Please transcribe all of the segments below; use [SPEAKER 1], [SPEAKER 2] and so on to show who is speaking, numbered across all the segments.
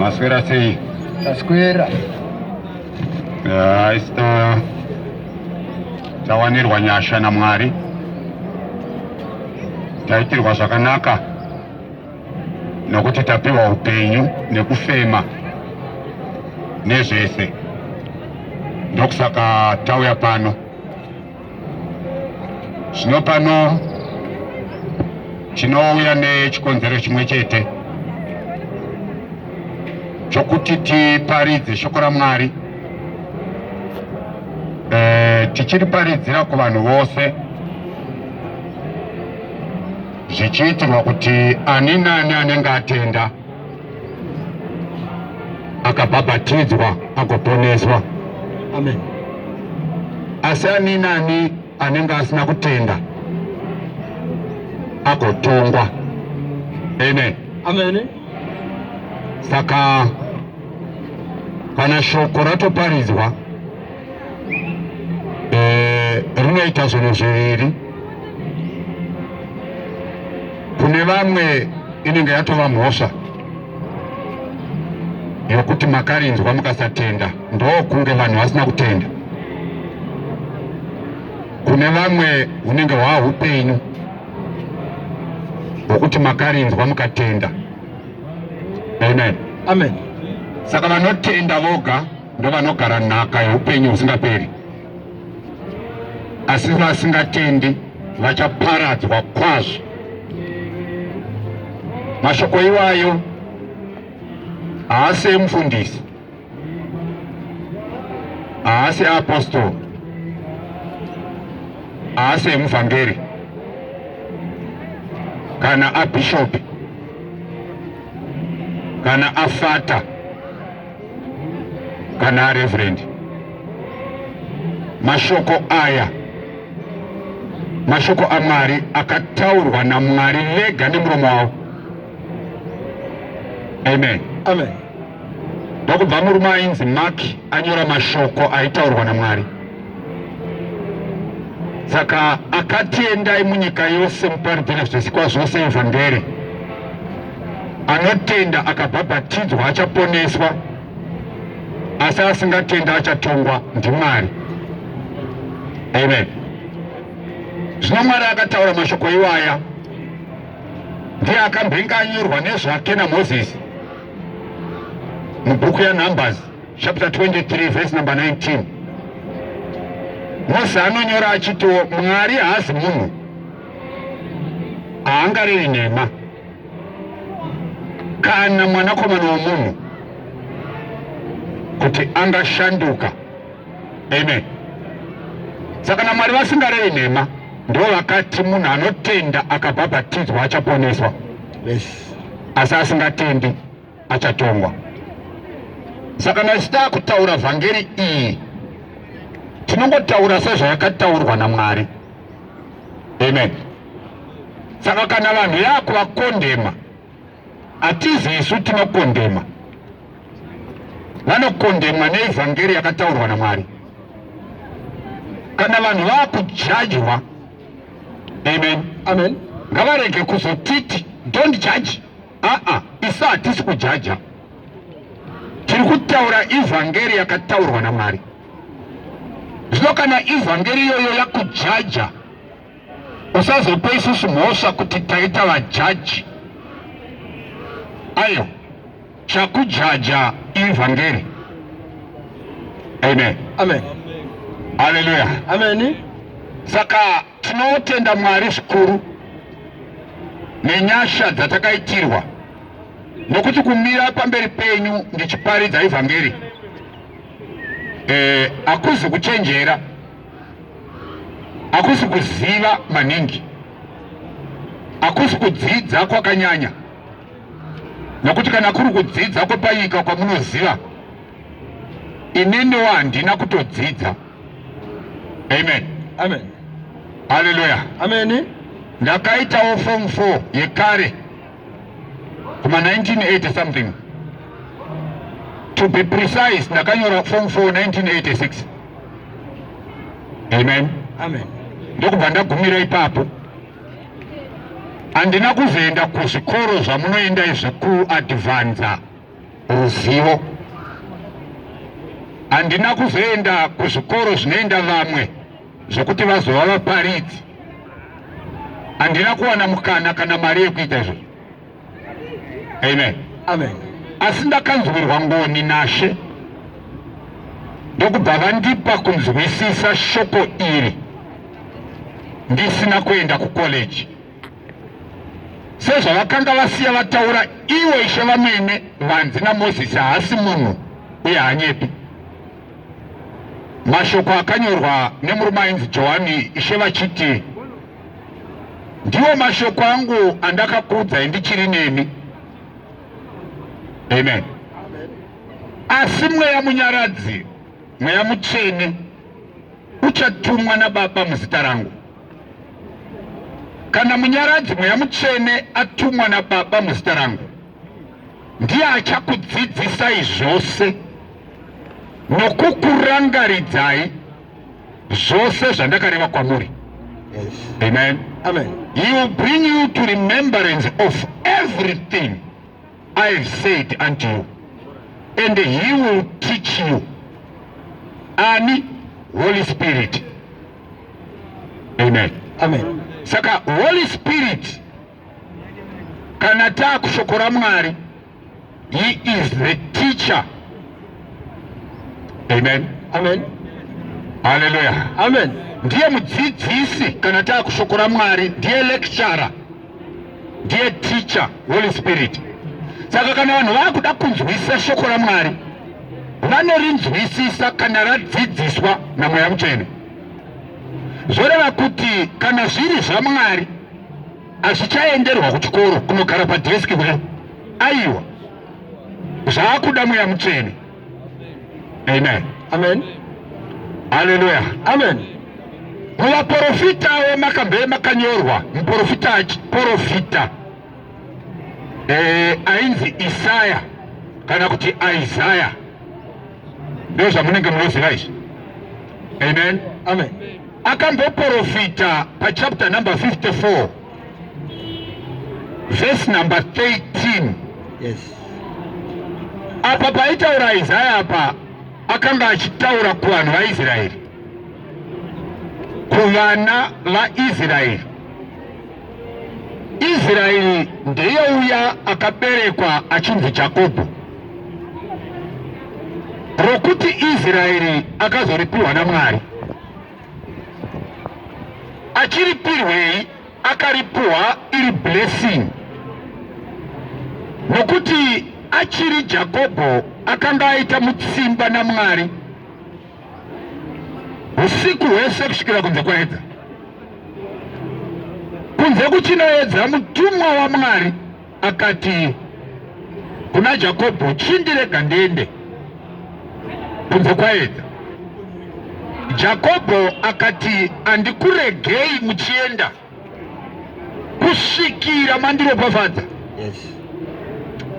[SPEAKER 1] Maswera sei? Taswera.
[SPEAKER 2] Yeah,
[SPEAKER 1] ista tawanirwa nyasha naMwari. Taitirwa zvakanaka nokuti tapiwa upenyu nekufema nezvese ndokusaka tauya pano Zvino pano tinouya nechikonzero chimwe chete chokuti tiparidze shoko raMwari e, tichiriparidzira kuvanhu vose zvichiitirwa kuti ani nani anenge atenda akabhabhatidzwa agoponeswa amen asi ani nani anenge asina kutenda agotongwa amen amen saka kana shoko ratoparidzwa eh, rinoita zvinhu zviviri kune vamwe inenge yatova mhosva yokuti makarinzwa mukasatenda ndokunge vanhu vasina kutenda kune vamwe hunenge hwaa upenyu hwokuti makarinzwa mukatenda amen amen
[SPEAKER 2] saka
[SPEAKER 1] vanotenda voga ndovanogara nhaka yeupenyu husingaperi asi vasingatendi vachaparadzwa kwazvo mashoko iwayo haasi emufundisi haasi eapostoro haasi emuvhangeri kana abhishopi kana afata kana reverend mashoko aya mashoko amwari akataurwa namwari vega nemuromo wavo amen amen ndokubva murume ainzi mark anyora mashoko aitaurwa namwari saka akati endai munyika yose muparidze nezvisikwa zvose evhangeri anotenda akabhabhatidzwa achaponeswa asi asingatenda achatongwa ndimwari amen zvino mwari akataura mashoko iwaya ndiye akambenge anyorwa nezvake namozisi mubhuku yanumbers chapter 23 verse number 19 mose anonyora achitiwo mwari haazi munhu haangarevi nhema kana mwanakomana womunhu kuti angashanduka amen saka na mwari vasingarevi nhema ndo vakati munhu anotenda akabhabhatidzwa achaponeswa yes.
[SPEAKER 2] asi
[SPEAKER 1] asingatendi achatongwa. Saka nhasi takutaura vhangeri iyi tinongotaura sezvayakataurwa naMwari. Amen. Saka kana vanhu yakuvakondema hatizi isu tinokondema vanokondemwa neevhangeri yakataurwa namwari kana vanhu vakujajwa amen amen
[SPEAKER 2] ngavarege
[SPEAKER 1] kuzotiti don't judge aa isu hatisi kujaja tiri kutaura evhangeri yakataurwa namwari zvino kana evhangeri iyoyo yakujaja usazopa isusu mhosva kuti taita vajaji ayo chakujaja evhangeri amen amen
[SPEAKER 2] haleluya
[SPEAKER 1] amen
[SPEAKER 2] saka
[SPEAKER 1] Tinotenda Mwari zvikuru nenyasha dzatakaitirwa nokuti kumira pamberi penyu ndichiparidza evhangeri eh, hakuzi kuchenjera, hakusi kuziva maningi, hakusi kudzidza kwakanyanya, nokuti kana kuri kudzidza kwepanyika kwamunoziva, ineniwo handina kutodzidza. Amen. Amen.
[SPEAKER 2] Hallelujah.
[SPEAKER 1] Amen.
[SPEAKER 2] Ndakaitawo
[SPEAKER 1] form 4 yekare kuma 1980 something to be precise ndakanyora form 4 1986 amen amen
[SPEAKER 2] ndokubva ndagumira
[SPEAKER 1] ipapo handina kuzoenda kuzvikoro zvamunoenda izvi kuadvanza ruzivo. Handina kuzoenda kuzvikoro zvinoenda vamwe zvokuti vazova vaparidzi. Handina kuwana mukana kana mari yekuita izvozvo. Amen. Amen.
[SPEAKER 2] Asi ndakanzwirwa
[SPEAKER 1] ngoni naShe ndokubva vandipa kunzwisisa shoko iri ndisina kuenda kukoleji. sezvavakanga vasiya vataura ivo ishe vamene vanzi namozisi haasi munhu uye hanyepi mashoko akanyorwa nemurume ainzi johani ishe vachiti ndiwo mashoko angu andakakuudzai ndichiri nemi amen asi mweya munyaradzi mweya mutsvene uchatumwa nababa muzita rangu Kana munyaradzi mweya mutsvene atumwa naBaba muzita rangu, ndiye achakudzidzisai zvose nokukurangaridzai zvose zvandakareva kwamuri.
[SPEAKER 2] Yes. Amen.
[SPEAKER 1] Amen. He
[SPEAKER 2] will bring
[SPEAKER 1] you to remembrance of everything I have said unto you and he will teach you. Ani, Holy Spirit. Amen. Amen.
[SPEAKER 2] Saka Holy
[SPEAKER 1] Spirit kana taakushoko raMwari he is the teacher. Amen. Amen.
[SPEAKER 2] Hallelujah.
[SPEAKER 1] Amen.
[SPEAKER 2] Ndiye
[SPEAKER 1] mudzidzisi kana taakushoko raMwari ndiye lecturer. ndiye teacher holy spirit saka kana vanhu vakuda kunzwisisa shoko ramwari vanorinzwisisa kana radzidziswa namweya mutsvene zvoreva kuti kana zviri zvamwari hazvichaenderwa kuchikoro kunogara padheski kudai aiwa zvaakuda mweya mutsvene Amen. Amen.
[SPEAKER 2] Haleluya.
[SPEAKER 1] Amen. Muvaporofita wemakabhe makanyorwa muporofita achiporofita eh, ainzi Isaya kana kuti Isaya ndio zvamunenge munoziva izvi. Amen. Amen.
[SPEAKER 2] Akamboporofita
[SPEAKER 1] pachapter number 54 verse number 13 yes apa paitaura isaya apa akanga achitaura kuvanhu vaisraeri kuvana vaisraeri israeri ndeye uya akaberekwa achinzi jakobho rokuti israeri akazoripiwa namwari achiripirwei akaripuwa iri blessing nokuti achiri jakobho akanga aita mutsimba namwari usiku hwese kusvikira kunze kwaedza kunze kuchinoedza mutumwa wamwari Akati kuna Jakobho, Chindirega ndiende kunze kwaedza. Jakobho akati, Andikuregei muchienda kusvikira mandiropafadza. Yes.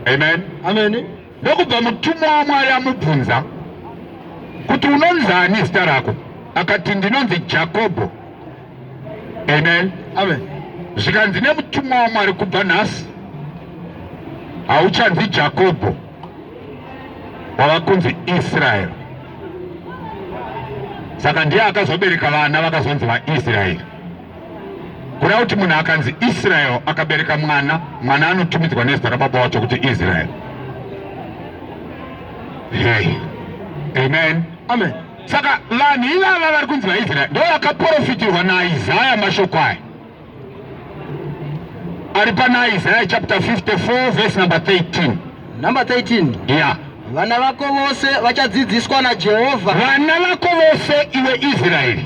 [SPEAKER 1] Amen. Amen.
[SPEAKER 2] Ndokubva mutumwa
[SPEAKER 1] waMwari amubvunza kuti unonzani zita rako? Akati, ndinonzi Jakobho. amen amen
[SPEAKER 2] zvikanzi
[SPEAKER 1] nemutumwa wamwari kubva nhasi hauchanzi jakobho wava kunzi israeri saka ndiye akazobereka vana vakazonzi vaisraeri kuda kuti munhu akanzi israeri akabereka mwana mwana anotumidzwa nezita rababa wacho kuti israeri hey. amen amen
[SPEAKER 2] saka vanhu
[SPEAKER 1] ivava vari kunzi vaisraeri ndo vakaprofitirwa naisaya mashoko aya ari pana isaya chapter 54 verse number 13 number
[SPEAKER 2] 13 ya yeah. vana
[SPEAKER 1] vako
[SPEAKER 2] vose vachadzidziswa najehovha vana vako
[SPEAKER 1] vose iwe israeri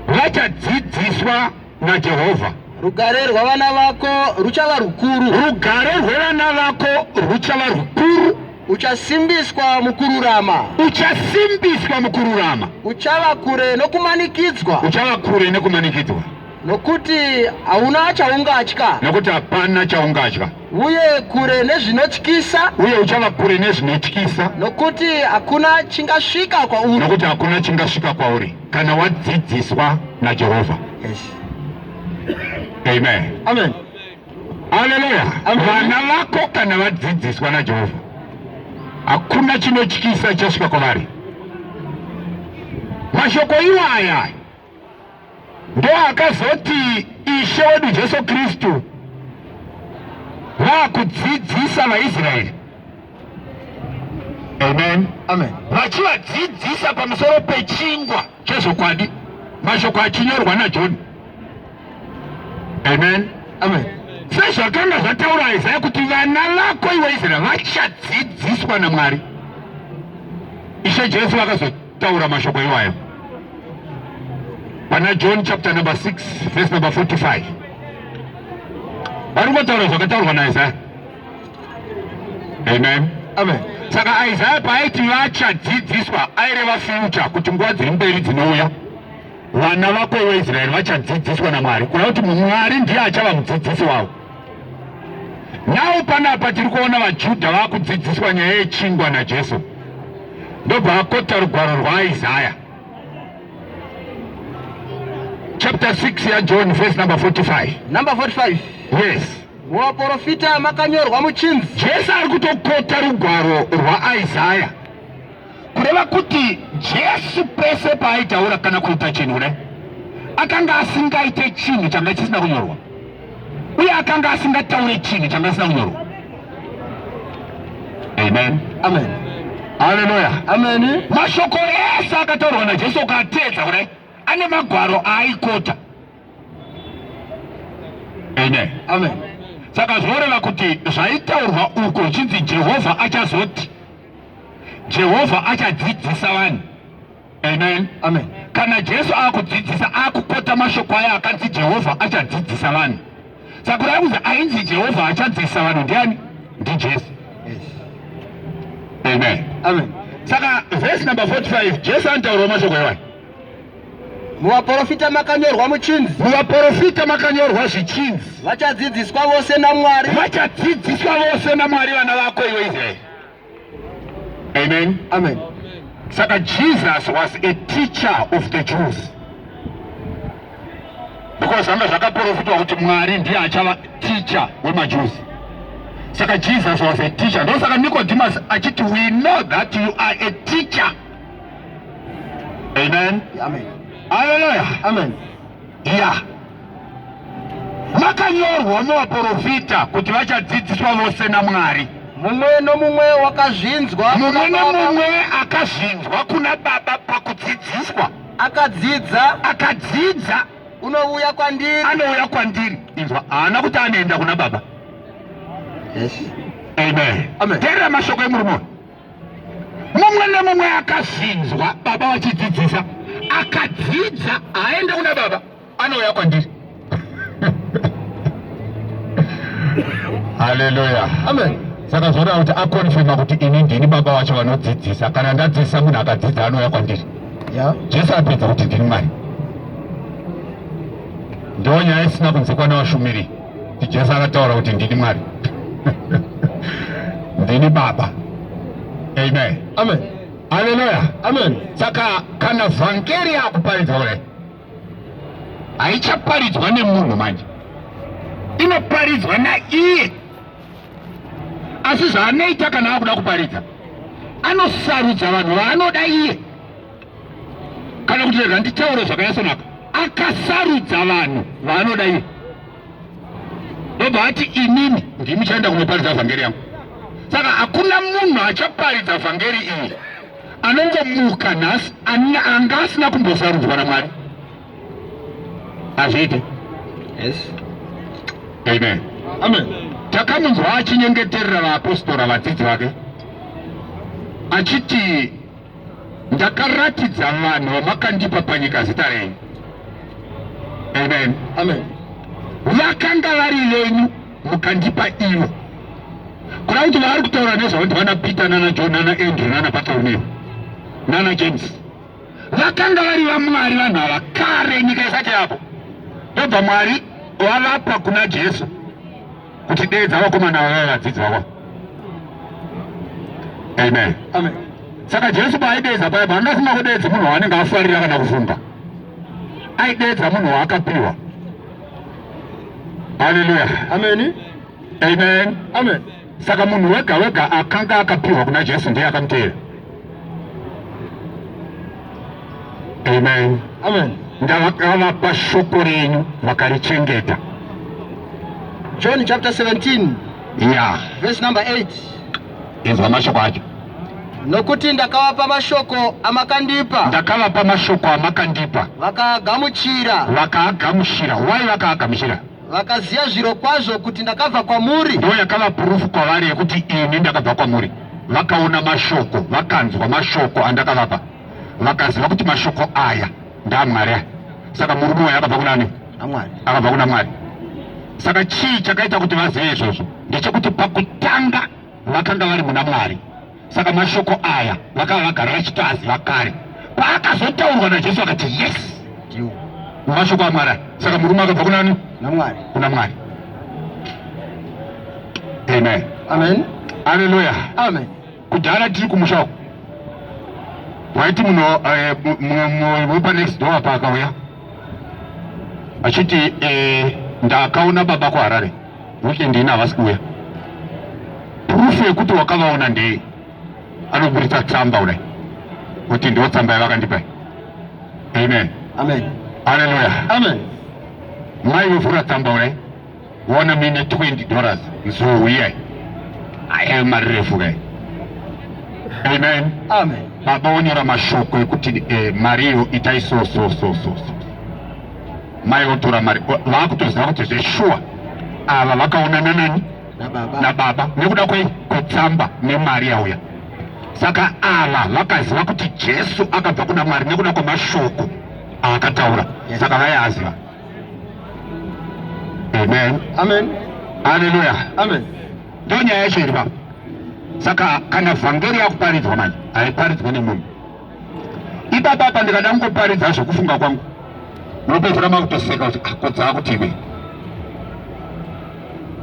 [SPEAKER 1] vachadzidziswa naJehovha. Rugare rwavana
[SPEAKER 2] vako ruchava rukuru. Rugare rwevana
[SPEAKER 1] vako ruchava rukuru. Uchasimbiswa
[SPEAKER 2] mukururama. Uchasimbiswa
[SPEAKER 1] mukururama. Uchava kure
[SPEAKER 2] nokumanikidzwa. Uchava kure
[SPEAKER 1] nekumanikidzwa. Nokuti
[SPEAKER 2] hauna chaungatya. Nokuti hapana
[SPEAKER 1] chaungatya. uye kure
[SPEAKER 2] nezvinotyisa, uye uchava kure
[SPEAKER 1] nezvinotyisa, nokuti
[SPEAKER 2] hakuna chingasvika kwauri. nokuti hakuna chingasvika
[SPEAKER 1] kwauri kana wadzidziswa naJehovha. Yes.
[SPEAKER 2] Amen.
[SPEAKER 1] Amen. Haleluya. Amen. Vana vako
[SPEAKER 2] kana
[SPEAKER 1] vadzidziswa naJehovha, hakuna chinotyisa chichasvika kwavari. Mashoko iwaya ndoakazoti Ishe wedu Jesu Kristu vakudzidzisa vaIsraeri amen amen
[SPEAKER 2] vachivadzidzisa
[SPEAKER 1] pamusoro pechingwa chezvokwadi mashoko achinyorwa naJoni amen amen
[SPEAKER 2] sezvakanga
[SPEAKER 1] zvataura Isaya kuti vana vako iwe Israeri vachadzidziswa naMwari Ishe Jesu vakazoti Taura mashoko iwayo pana John chapter number 6 verse number 45 vari kutaura zvakataurwa naIsaya. Amen. Amen. Saka
[SPEAKER 2] Isaya
[SPEAKER 1] paaiti vachadzidziswa aireva future kuti nguva dziri mberi dzinouya vana vako veIsraeri vachadzidziswa naMwari kuda kuti Mwari ndiye achava mudzidzisi wavo. Nhau panapa tiri kuona vaJudha vakudzidziswa nyaya yechingwa naJesu, ndobva akota rugwaro rwaIsaya chapter 6 yaJohn verse number 45. Number
[SPEAKER 2] 45. Yes
[SPEAKER 1] muvaporofita
[SPEAKER 2] makanyorwa muchinzi jesu ari kutokota
[SPEAKER 1] rugwaro rwaisaya kureva kuti jesu pese paaitaura kana kuita chinhu kudai akanga asingaite chinhu changa chisina kunyorwa uye akanga asingataure chinhu changa chisina kunyorwa amen amen
[SPEAKER 2] haleluya
[SPEAKER 1] amen
[SPEAKER 2] mashoko ese
[SPEAKER 1] akataurwa najesu ukateedza kudai ane magwaro aaikota amen amen
[SPEAKER 2] saka zvoreva
[SPEAKER 1] kuti zvaitaurwa uko chinzi jehovha achazoti Jehovha achadzidzisa vanhu. Amen. Amen. Kana
[SPEAKER 2] Jesu
[SPEAKER 1] akudzidzisa akukota mashoko aya akanzi Jehovha achadzidzisa vanhu. Sakurai kuzi ainzi Jehovha achadzidzisa vanhu ndiani? NdiJesu. Yes. Amen. Amen.
[SPEAKER 2] Saka verse
[SPEAKER 1] number 45 Jesu anotaurawo mashoko ewani. Muvaporofita
[SPEAKER 2] makanyorwa muchinzi. Muvaporofita
[SPEAKER 1] makanyorwa zvichinzi. Vachadzidziswa
[SPEAKER 2] vose naMwari. Vachadzidziswa
[SPEAKER 1] vose naMwari vana vako iwe Israeri. Amen. Amen.
[SPEAKER 2] Saka
[SPEAKER 1] Jesus was a teacher of the Jews. Because zvanga zvakaprofitwa kuti Mwari ndiye achava teacher wemaJews. Saka Jesus was a teacher. Ndo saka Nicodemus achiti we know that you are a teacher. Amen. Amen.
[SPEAKER 2] Hallelujah.
[SPEAKER 1] Amen.
[SPEAKER 2] Yeah.
[SPEAKER 1] Makanyorwa muvaporofita kuti vachadzidziswa vose naMwari. Mumwe nomumwe
[SPEAKER 2] wakazvinzwa. Mumwe nomumwe
[SPEAKER 1] akazvinzwa kuna Baba pakudzidziswa. Akadzidza. Akadzidza. Unouya kwandiri.
[SPEAKER 2] Anouya kwandiri.
[SPEAKER 1] Inzwa, haana kuti anoenda kuna Baba.
[SPEAKER 2] Yes. Amen.
[SPEAKER 1] Amen. Terera mashoko
[SPEAKER 2] emurume
[SPEAKER 1] uyu. Mumwe nomumwe akazvinzwa Baba vachidzidzisa. Akadzidza, haenda kuna Baba. anouya kwandiri haleluya amen saka
[SPEAKER 2] zvoda kuti
[SPEAKER 1] akonfirma kuti ini ndini baba wacho vanodzidzisa kana ndadzidzisa munhu akadzidza anouya kwandiri yeah. jesu
[SPEAKER 2] apedza kuti
[SPEAKER 1] ndini mwari ndo nyaya isina kunzikwa navashumiri kuti jesu akataura kuti ndini mwari ndini baba amen amen
[SPEAKER 2] haleluya
[SPEAKER 1] amen saka
[SPEAKER 2] kana
[SPEAKER 1] vhangeri akuparidzwa kudai haichaparidzwa nemunhu manje inoparidzwa naiye asi zvaanoita kana akuda kuparidza anosarudza vanhu vaanoda iye kana kuti rega nditaure zvakanyasonaka akasarudza vanhu vaanoda iye ndobva ati inini ndimi chaenda kunoparidza vhangeri yangu saka hakuna munhu achaparidza vhangeri iyi anongomuka nhasi anga asina kumbosarudzwa namwari hazviite yes amen amen
[SPEAKER 2] takamunzwa
[SPEAKER 1] achinyengeterera vaapostora vadzidzi vake achiti ndakaratidza vanhu vamakandipa panyika zita renyu amen amen
[SPEAKER 2] vakanga
[SPEAKER 1] vari venyu mukandipa ivo kuda kuti vaari kutaura nezvavo ndivana peter nana john nana andrew nana bartolomeo nana james vakanga vari vamwari vanhu ava kare nyika isati yapo ndobva mwari wavapa kuna jesu kuti deedza vakomana vava vadzidzi vavo amen
[SPEAKER 2] saka jesu
[SPEAKER 1] paaideedza paipo angasina kudeedza munhu waanenge afarira kana kufunga aideedza munhu waakapiwa Haleluya. Amen.
[SPEAKER 2] Amen.
[SPEAKER 1] Amen. Saka munhu wega wega akanga akapiwa kuna Jesu ndiye akamteera. Amen. Amen.
[SPEAKER 2] Ndavakavapa
[SPEAKER 1] shoko renyu vakarichengeta.
[SPEAKER 2] John chapter 17. Yeah. Verse number 8. Inzwa
[SPEAKER 1] mashoko acho. Nokuti
[SPEAKER 2] ndakavapa mashoko amakandipa. Ndakavapa mashoko
[SPEAKER 1] amakandipa. Vakaagamuchira.
[SPEAKER 2] Vakaagamuchira.
[SPEAKER 1] Why vakaagamuchira? Vakaziva zviro
[SPEAKER 2] kwazvo kuti ndakabva kwamuri. Ndiyo yakava purufu
[SPEAKER 1] kwavari yekuti ini ndakabva kwamuri. Vakaona mashoko, vakanzwa mashoko andakavapa. Vakaziva kuti mashoko aya ndamwari a saka murume wayo akabva kunani akabva kuna
[SPEAKER 2] mwari
[SPEAKER 1] saka chii chakaita kuti vazive izvozvo ndechekuti pakutanga vakanga vari muna mwari saka mashoko aya vakava vagara vachitoaziva kare paakazotaurwa najesu akati yes mashoko amwari aya saka murume akabva kunani kuna mwari amen amen
[SPEAKER 2] aleluya
[SPEAKER 1] amen
[SPEAKER 2] Kudhara tiri
[SPEAKER 1] kumusha uko waiti muno eh, mumwe wepa next door apa akauya achiti eh, ndakaona baba kuharare weekend ina havasi kuuya prufu yekuti wakavaona ndei anoburitsa tsamba kudai kuti ndiwo tsamba yavakandipa amen amen
[SPEAKER 2] haleluya
[SPEAKER 1] amen
[SPEAKER 2] mai
[SPEAKER 1] vovhura tsamba kudai Wona mine 20 dollars nzou iyai aye marefu kai. Amen. Amen.
[SPEAKER 2] Baba wonyora
[SPEAKER 1] mashoko ekuti eh, mari iyo itai so so so so so. Mai otora mari vakutoziva kuti zveshuwa ava vakaonana nani na baba nekuda kwei kwetsamba nemari yauya saka ava vakaziva kuti jesu akabva kuna mwari nekuda kwemashoko aakataura saka vaiaziva Amen. Amen.
[SPEAKER 2] Hallelujah.
[SPEAKER 1] Amen.
[SPEAKER 2] Ndio nyaya yacho
[SPEAKER 1] iri baba. Saka kana vhangeri yakuparidzwa manje haiparidzwe nemunhu. Ipapa hapa ndikada kungoparidza zvekufunga kwangu. Unopedzera makutoseka kuti ah, kodza kuti iwe.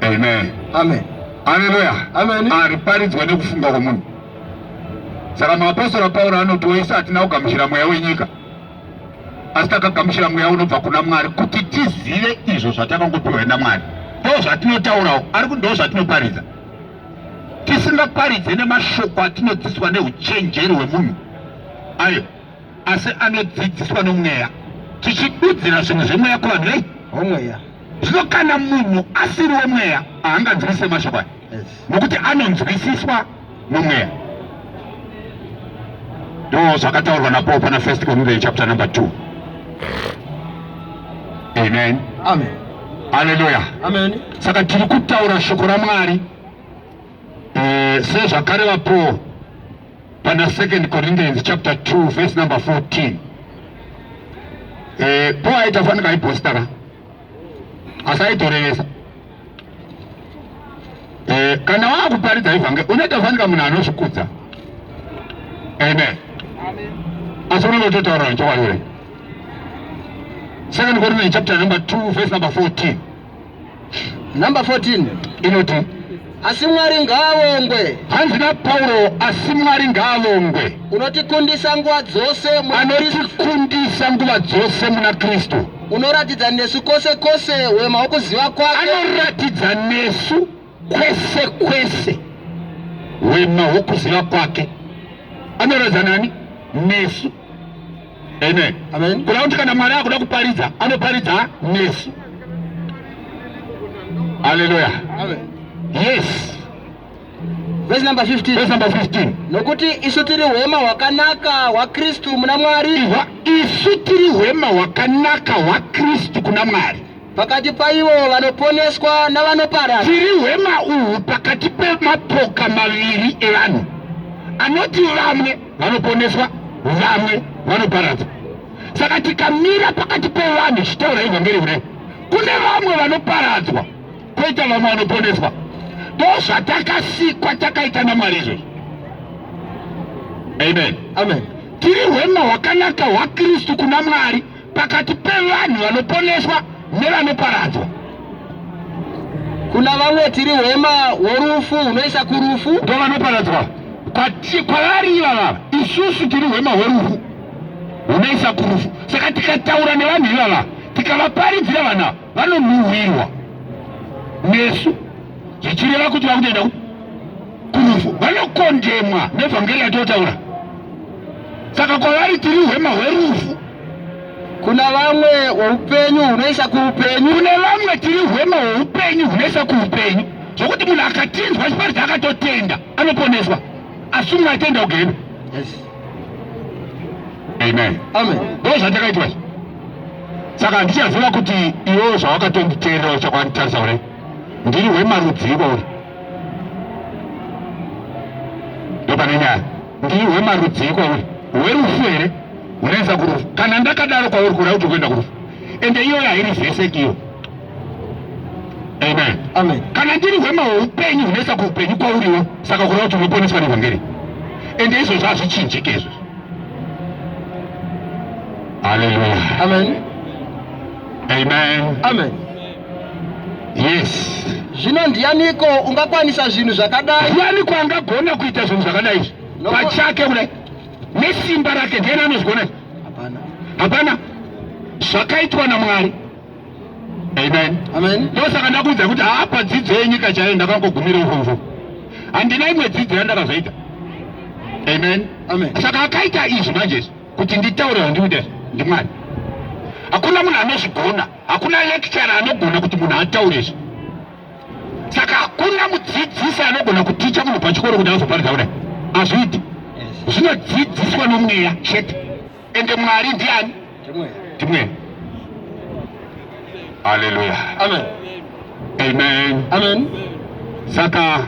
[SPEAKER 1] Amen. Amen.
[SPEAKER 2] Hallelujah.
[SPEAKER 1] Amen.
[SPEAKER 2] Ariparidzwa nekufunga
[SPEAKER 1] kwemunhu. Saka maapostora Pauro anoti wese atina kugamuchira mweya wenyika. asi takagamuchira mweya unobva kuna mwari kuti tizive izvo zvatakangopiwa namwari ndo zvatinotaurawo ari kuti ndo zvatinoparidza tisingaparidze nemashoko atinodzidziswa neuchenjeri hwemunhu ayo asi anodzidziswa nomweya tichidudzira zvinhu zvemweya kuvanhu vei omweya
[SPEAKER 2] zvino kana
[SPEAKER 1] munhu asiri wemweya haanganzwisise mashoko aya nokuti anonzwisiswa mumwe ndo zvakataurwa napo pana first korinthia chapter number 2 amen amen
[SPEAKER 2] haleluya
[SPEAKER 1] amen
[SPEAKER 2] saka tiri kutaura
[SPEAKER 1] shoko ramwari eh, sezvakareva paul pana second corinthians chapter 2 verse number 14 eh, paul aita fanika aibhositaka asi aitorevesa eh, kana waakuparidza ivhange unoita fanika munhu anozvikudza amen asi unenge utotaura nechokwadi ure second korinthe chapter number 2 verse number 14
[SPEAKER 2] number 14 inoti
[SPEAKER 1] Asi Mwari
[SPEAKER 2] ngaavongwe. Hanzi naPauro,
[SPEAKER 1] asi Mwari ngaavongwe. Unotikundisa
[SPEAKER 2] nguva dzose muna Anotikundisa
[SPEAKER 1] nguva dzose muna Kristu. Unoratidza nesu
[SPEAKER 2] kwose kwose wema wokuziva kwake. Anoratidza
[SPEAKER 1] nesu kwese kwese wema wokuziva kwake. Anoratidza nani? Nesu. Amen. Amen. Kuna kuti
[SPEAKER 2] kana mwari akuda
[SPEAKER 1] kuparidza anoparidza nesu. Haleluya. Amen.
[SPEAKER 2] Yes. Verse number 15. Verse number 15.
[SPEAKER 1] Nokuti isu tiri
[SPEAKER 2] hwema hwakanaka hwaKristu muna Mwari. Isu
[SPEAKER 1] tiri hwema hwakanaka hwaKristu kuna Mwari. Pakati paivo
[SPEAKER 2] vanoponeswa navanoparara. Tiri hwema
[SPEAKER 1] uhu pakati pemapoka maviri evanhu. Anoti vamwe vanoponeswa vamwe vanoparadza saka tikamira pakati pevanhu ichitaura evhangeri kudai kune vamwe vanoparadzwa kwoita vamwe vanoponeswa ndo zvatakasikwa takaita namwari izvozvo amen amen tiri
[SPEAKER 2] hwema
[SPEAKER 1] hwakanaka hwakristu kuna mwari pakati pevanhu vanoponeswa nevanoparadzwa
[SPEAKER 2] kuna vamwe tiri hwema hworufu hunoisa kurufu ndo vanoparadzwa
[SPEAKER 1] kwavari ivava isusu tiri hwema hworufu hunoisa kurufu saka tikataura nevanhu ivava tikavaparidzira vana vanonhuhwirwa nesu zvichireva kuti vakutoenda kurufu vanokondemwa nevhangeri yatotaura saka kwavari tiri hwema hwerufu kuna
[SPEAKER 2] vamwe weupenyu hunoisa kuupenyu kune vamwe tiri
[SPEAKER 1] hwema hweupenyu hunoisa kuupenyu zvokuti munhu akatinzwa chiparidza akatotenda anoponeswa asi umwe atenda ugene amen amen ndo zvatakaitwa
[SPEAKER 2] izvi
[SPEAKER 1] saka handichaziva kuti iwewo zvawakatonditeerera uchakwanitarisa ure ndiri hwemarudziko uri ndopane nyaya ndiri hwemarudzii kwauri hwerufu here hunoisa kurufu kana ndakadaro kwauri kuda kuti kuenda kurufu ende iyoyo hairi zveseki iyo amen amen kana ndiri hwema hweupenyu hunoisa kuupenyu kwauriwo saka kuda kuti unoponeswa nevhangeri ende izvozvo hazvichinjike izvozvo haleluya amen amen amen
[SPEAKER 2] yes
[SPEAKER 1] zvino ndiyaniko
[SPEAKER 2] ungakwanisa zvinhu zvakadai ndiyaniko angagona
[SPEAKER 1] kuita zvinhu zvakadai izvi pachake kudai nesimba rake ndiani anozvigona hapana hapana zvakaitwa namwari amen amen ndosaka
[SPEAKER 2] ndakuudza kuti
[SPEAKER 1] hapa dzidzo yenyika chaiyo ndakangogumira ukonzo handina imwe dzidzo yandakazoita amen amen saka
[SPEAKER 2] akaita izvi
[SPEAKER 1] manje kuti nditaure vandikuita ndimwari hakuna munhu anozvigona Hakuna lecturer anogona kuti munhu ataure izvi. Saka hakuna mudzidzisi anogona kuticha munhu pachikoro kuti azoparidza kudai. Hazviiti. Zvinodzidziswa nomweya chete. Ende Mwari ndiani? Ndimweya. Hallelujah. Amen.
[SPEAKER 2] Amen.
[SPEAKER 1] Amen.
[SPEAKER 2] Saka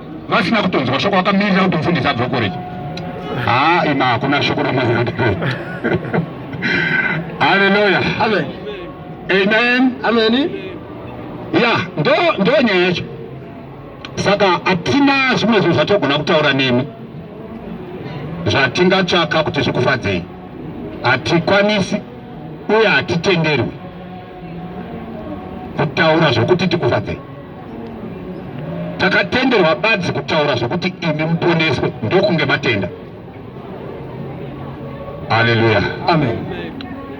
[SPEAKER 1] vasina kutonzwa shoko vakamirira kuti mufundisi abve kukoreji haa ima hakuna shoko ramazandipe haleluya amen
[SPEAKER 2] amen
[SPEAKER 1] amen
[SPEAKER 2] ya
[SPEAKER 1] ndo ndo nyaya yacho saka hatina zvimwe zvinhu zvatogona kutaura nemi zvatingatsvaka kuti zvikufadzei hatikwanisi uye hatitenderwi kutaura zvokuti tikufadzei takatenderwa badzi kutaura zvokuti imi muponeswe ndokunge matenda haleluya amen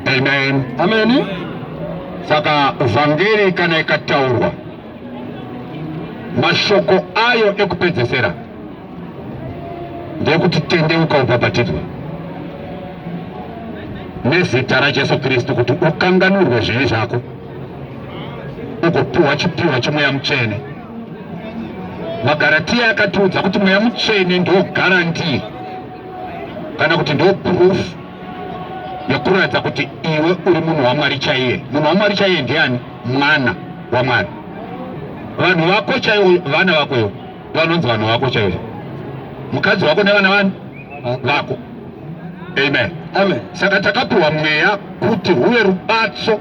[SPEAKER 2] amen
[SPEAKER 1] amen
[SPEAKER 2] saka
[SPEAKER 1] vhangeri kana ikataurwa mashoko ayo ekupedzesera ndekuti tendeuka ubhabhatidzwa nezita rajesu kristu kuti ukanganurwe zvivi zvako ugopiwa chipiwa chemweya mutsvene magaratiya akatiudza kuti mweya mutsvene ndo garanti kana kuti ndo proof yekuratidza kuti iwe uri munhu wamwari chaiye munhu wamwari chaiye ndiani mwana wamwari vanhu vako chaivo vana vako ivo vanonzi vanhu vako chaivo mukadzi wako nevana vani vako amen amen saka
[SPEAKER 2] takapiwa
[SPEAKER 1] mweya kuti huve rubatso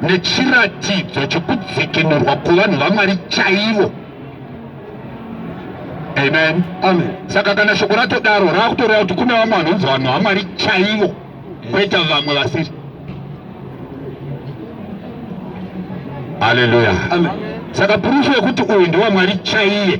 [SPEAKER 1] nechiratidzo chekudzikinurwa kuvanhu vamwari chaivo amen amen saka
[SPEAKER 2] kana shoko
[SPEAKER 1] ratodaro raakutoreva kuti kune vamwe vanonzi vanhu vamwari chaivo kweta vamwe vasiri haleluya saka
[SPEAKER 2] purufu
[SPEAKER 1] yekuti uyu ndewamwari chaiye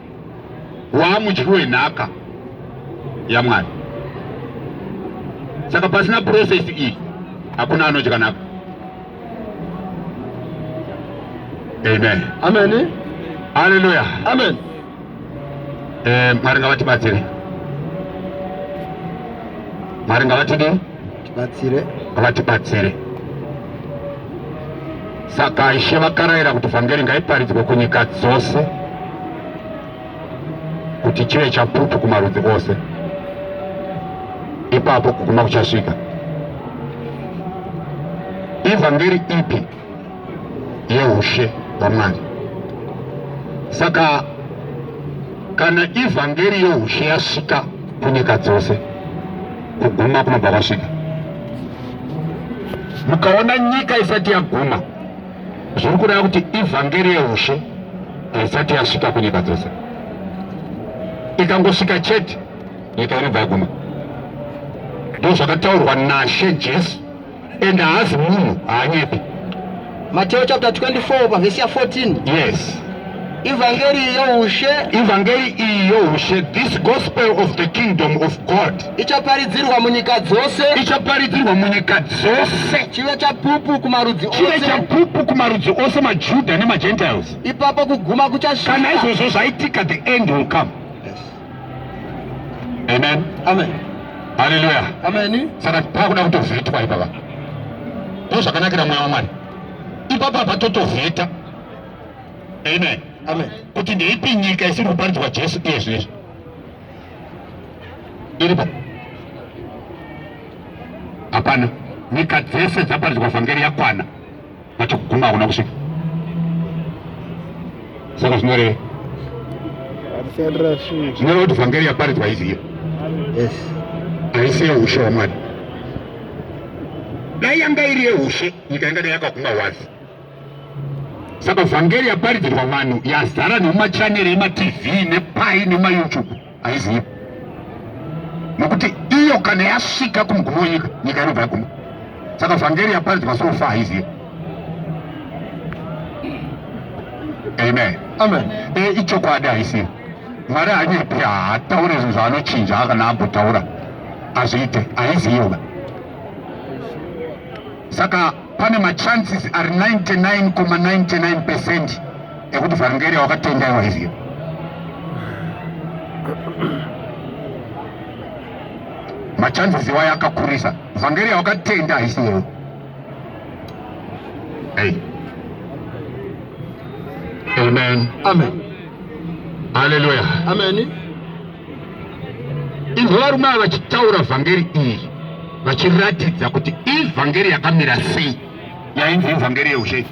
[SPEAKER 1] waamudyi wenhaka yamwari saka pasina process iyi hakuna anodya nhaka amen amen
[SPEAKER 2] haleluya
[SPEAKER 1] amen
[SPEAKER 2] eh,
[SPEAKER 1] mwari ngavatibatsire mwari ngavatidii tibatsire
[SPEAKER 2] vatibatsire
[SPEAKER 1] saka ishe vakarayira kuti vhangeri ngaiparidzwe kunyika dzose kuti chive chapupu kumarudzi ose ipapo kuguma kuchasvika ivhangeri ipi yeushe hwamwari saka kana ivhangeri yeushe yasvika kunyika dzose kuguma kunobva kwasvika mukaona nyika isati yaguma zviri kureva kuti ivhangeri yeushe haisati yasvika kunyika dzose ikangosvika chete nyika inobva yaguma ndozvakataurwa nashe jesu and haazi munhu haanyepi Mateo
[SPEAKER 2] chapter 24 pavhesi ya 14 yes
[SPEAKER 1] ivhangeri
[SPEAKER 2] youshe ivhangeri iyi
[SPEAKER 1] youshe this gospel of the kingdom of god ichaparidzirwa munyika
[SPEAKER 2] dzose ichaparidzirwa munyika
[SPEAKER 1] dzose chive chapupu
[SPEAKER 2] kumarudzi chive chapupu
[SPEAKER 1] kumarudzi ose majuda nemagentiles ipapo kuguma
[SPEAKER 2] kuchasvika kana izvozvo zvaitika
[SPEAKER 1] the end will come Amen. Amen.
[SPEAKER 2] Hallelujah.
[SPEAKER 1] Amen. Saka
[SPEAKER 2] pakuda
[SPEAKER 1] kutovhetwa ipapa. Ndozvakanakira mwana waMwari. Ipapa patotovheta. Amen. Amen.
[SPEAKER 2] Kuti ndeipi nyika
[SPEAKER 1] isiri kuparidzwa Jesu iye zvinezvi. Iripo. Hapana. Nyika dzese dzaparidzwa vhangeri yakwana. Nechokuguma hakuna kusvika. Saka zvinoreva. Zvinoreva kuti vhangeri yaparidzwa izi iyo. Yes.
[SPEAKER 2] Haisi
[SPEAKER 1] yehushe hwaMwari. Dai yanga iri yehushe, nyika ingadai yakaguma wazi. Saka vhangeri yaparidzirwa vanhu yazara nemachaneri ematv nepai nemayoutube. haizivi nokuti iyo kana yasvika kumugumo wenyika nyika inobva yaguma saka vhangeri yaparidzwa sofa haizivi amen amen
[SPEAKER 2] e, ichokwadi
[SPEAKER 1] haisivi mwari hanyepi haataure zvinhu zvaanochinja akana ambotaura azviite haiziyoba saka pane machances ari 99,99 percent ekuti vhangeri wakatenda iwa izvi machanzisi wayo akakurisa vhangeri yawakatenda haisi wewo hey. amen amen haleluya amen inzwa varume ava vachitaura vhangeri iyi vachiratidza kuti ivhangeri yakamira sei yainzi ivhangeri yeushe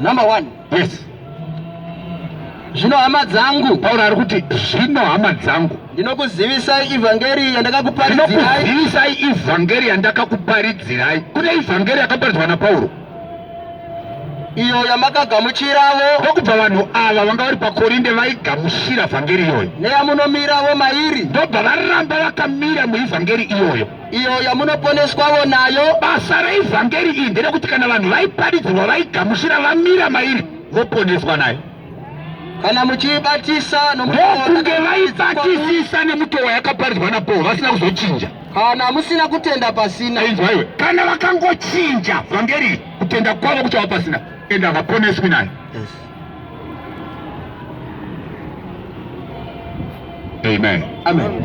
[SPEAKER 1] Number one.
[SPEAKER 2] Yes. Zvino hama dzangu. Pauro ari kuti
[SPEAKER 1] zvino hama dzangu. Ndinokuzivisai
[SPEAKER 2] ivhangeri yandakakuparidzirai. Ndinokuzivisai
[SPEAKER 1] ivhangeri yandakakuparidzirai. Kune ivhangeri yakaparidzwa naPauro.
[SPEAKER 2] Iyo yamakagamuchiravo. Ndokubva vanhu
[SPEAKER 1] ava vanga vari paKorinde vaigamuchira vhangeri iyoyo. Neyamunomiravo
[SPEAKER 2] mairi. Ndobva varamba
[SPEAKER 1] vakamira muivhangeri iyoyo. iyo yamunoponeswavo
[SPEAKER 2] nayo. Basa reivhangeri
[SPEAKER 1] iyi nderekuti kana vanhu vaiparidzirwa vaigamuchira vamira mairi voponeswa nayo kana
[SPEAKER 2] muchiibatisa ndokunge
[SPEAKER 1] vaibatisisa nemutoo wayakaparidzwa napaul vasina kuzochinja kana musina
[SPEAKER 2] kutenda pasina inzwaiwe kana
[SPEAKER 1] vakangochinja vhangeri kutenda kwavo kuchava pasina ende havaponeswi nayo yes. amen amen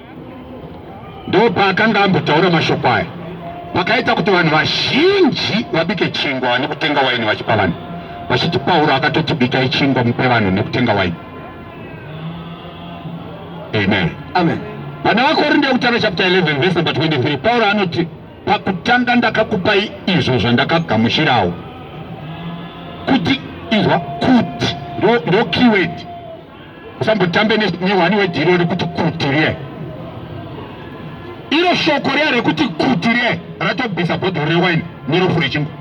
[SPEAKER 1] ndopaakanga ambotaura mashoko aya pakaita kuti vanhu vazhinji vabike chingwa vane kutenga waini vachipa vanhu vachiti pauro akatoti bikai chingwa mupe vanhu nekutenga waini amen amen
[SPEAKER 2] vana vakorinde
[SPEAKER 1] yekutanga chapter 11 verse number 23 pauro anoti pakutanga ndakakupai izvo zvandakagamuchirawo kuti izwa kuti ndo keyword usambotambe nehwani wedhiro rekuti kuti riye iro shoko riya rekuti kuti riye ratobvisa bhodhoro rewaini nerofu rechingwa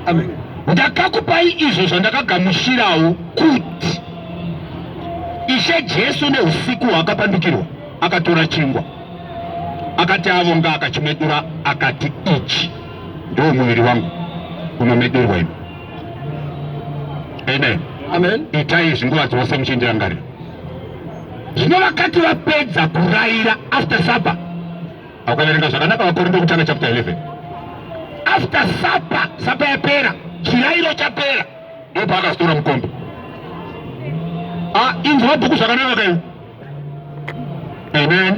[SPEAKER 1] amen
[SPEAKER 2] ndakakupai
[SPEAKER 1] izvo zvandakagamushirawo kuti ishe jesu neusiku hwaakapandukirwa akatora chingwa akati avonga akachimedura akati ichi ndiwo muviri wangu unomedurwa imi amen
[SPEAKER 2] amen itai izvi nguva
[SPEAKER 1] dzose muchindirangarira zvino vakati vapedza kuraira after supper akuverenga zvakanaka vakorinto kutanga chapter 11 after supper supper yapera chirairo chapera ndipo akazotora mukombe ah, inzwa bhuku zvakanaka kai amen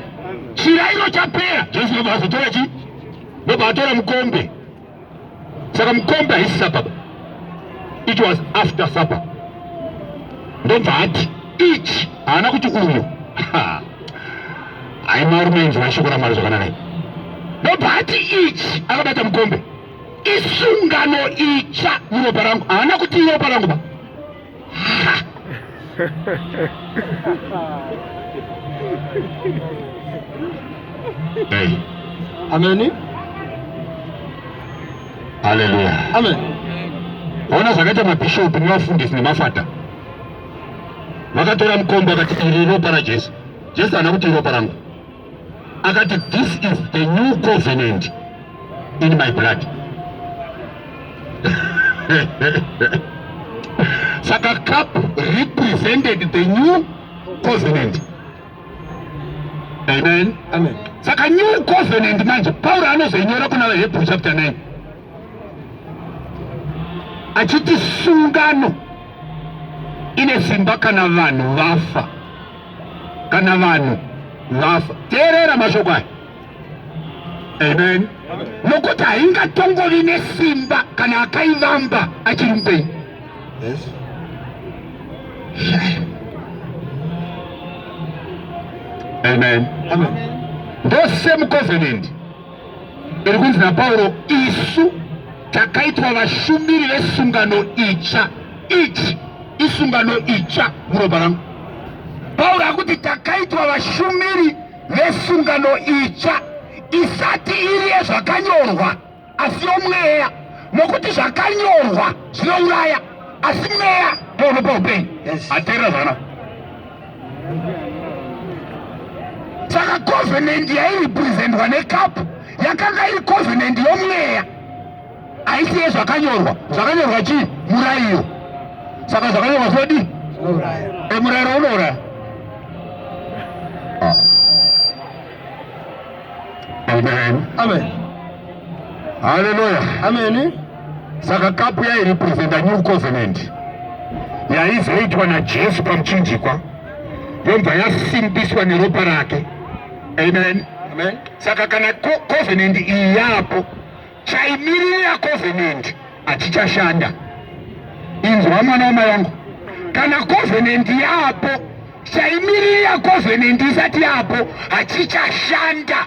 [SPEAKER 1] chirairo chapera jesu nobva azotora chi nobva atora mukombe saka mukombe haisi supper it was after supper ndobva ati ichi haana kuti uyo hai marume inzwa shoko ramwari zvakanaka ndobva ati ichi akabata mukombe isungano itsva muropa rangu haana kuti iropa rangu ba
[SPEAKER 2] Ameni.
[SPEAKER 1] Haleluya. Amen.
[SPEAKER 2] Ona
[SPEAKER 1] zvakaita mabhishopu nevafundisi nemafata vakatora mukombo akati iri ropa raJesu. Jesu haana kuti iropa rangu. akati this is the new covenant in my blood saka cup represented the new covenant amen amen saka
[SPEAKER 2] new
[SPEAKER 1] covenant manje pauro anozoinyora kuna vahebrew chapter 9 achiti sungano ine simba kana vanhu vafa kana vanhu vafa. Teerera mashoko aya. Amen. Nokuti haingatongovi nesimba kana akaivamba achiri mupenyu.
[SPEAKER 2] Yes.
[SPEAKER 1] Amen. Amen.
[SPEAKER 2] Ndose
[SPEAKER 1] mucovenant. Iri kunzi naPauro, isu takaitwa vashumiri vesungano itsva, ichi isungano itsva muropa rangu. Pauro akuti takaitwa vashumiri vesungano itsva isati iri yezvakanyorwa asi yomweya, nokuti zvakanyorwa zvinouraya asi mweya ndounopa upenyu. Yes. Ateerera zvakanaka. saka covenant yairepresentwa necup yakanga iri covenant yomweya haisi yezvakanyorwa zvakanyorwa chii murairo saka zvakanyorwa sodi emurairo unouraya Amen. Amen.
[SPEAKER 2] Haleluya.
[SPEAKER 1] Amen.
[SPEAKER 2] Saka
[SPEAKER 1] kapu yairepresenta new covenant yaizoitwa naJesu pamuchinjikwa yobva yasimbiswa neropa rake. Amen. Amen.
[SPEAKER 2] Saka kana
[SPEAKER 1] covenant iyi yapo chaimirira covenant hachichashanda. Inzwa mwana wamai wangu, kana covenant yapo, chaimirira covenant isati yapo hachichashanda.